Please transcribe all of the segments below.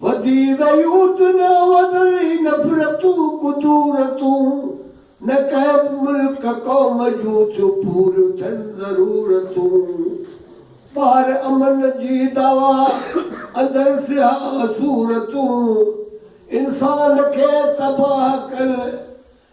وڌي ويون دنيا وڌل هي نفرتون ڪدورتون نه ڪنهن به ملڪ قوم جون ٿيون پوريون ٿين ضرورتون ٻاهر امن جي دعويٰ اندر سياح صورتون انسان کي تباهه ڪن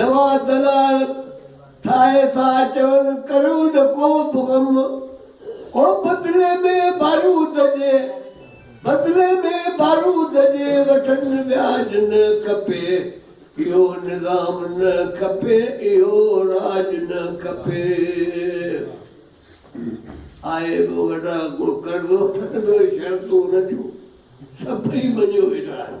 نواز دلال ٺاهي ٿا چون ڪرو نه ڪو به غم او بدلي ۾ بارود جي بدلي ۾ بارود جي وٺن وياج نه کپي اهو نظام نه کپي اهو راڄ نه کپي آء به وڏا ڪو قرض وٺڻ جو شرطون نه ڏيون سڀئي مڃيو ويٺا آهن.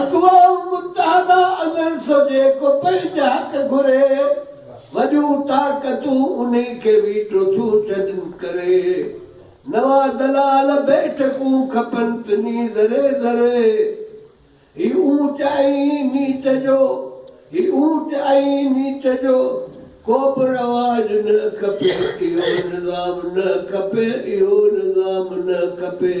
اقوام متحده اندر سو جيڪو پنهنجا حق گهري، وڏيون طاقتون انهي کي ويٽو ٿيون ڇڏن ڪري نوان دلال بيٺڪون کپن ٿني ذري ذري هي اونچ ۽ نيچ جو هي اونچ ۽ نيچ جو ڪوبه رواج نه کپي اهو نظام نه کپي اهو نظام نه کپي.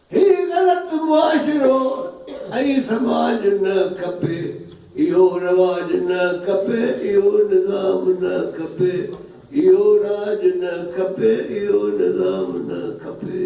هي غلط معاشرو ۽ سماج نه کپي، اهو رواج نه کپي، اهو نظام نه کپي، اهو راڄ نه کپي، اهو نظام نه کپي.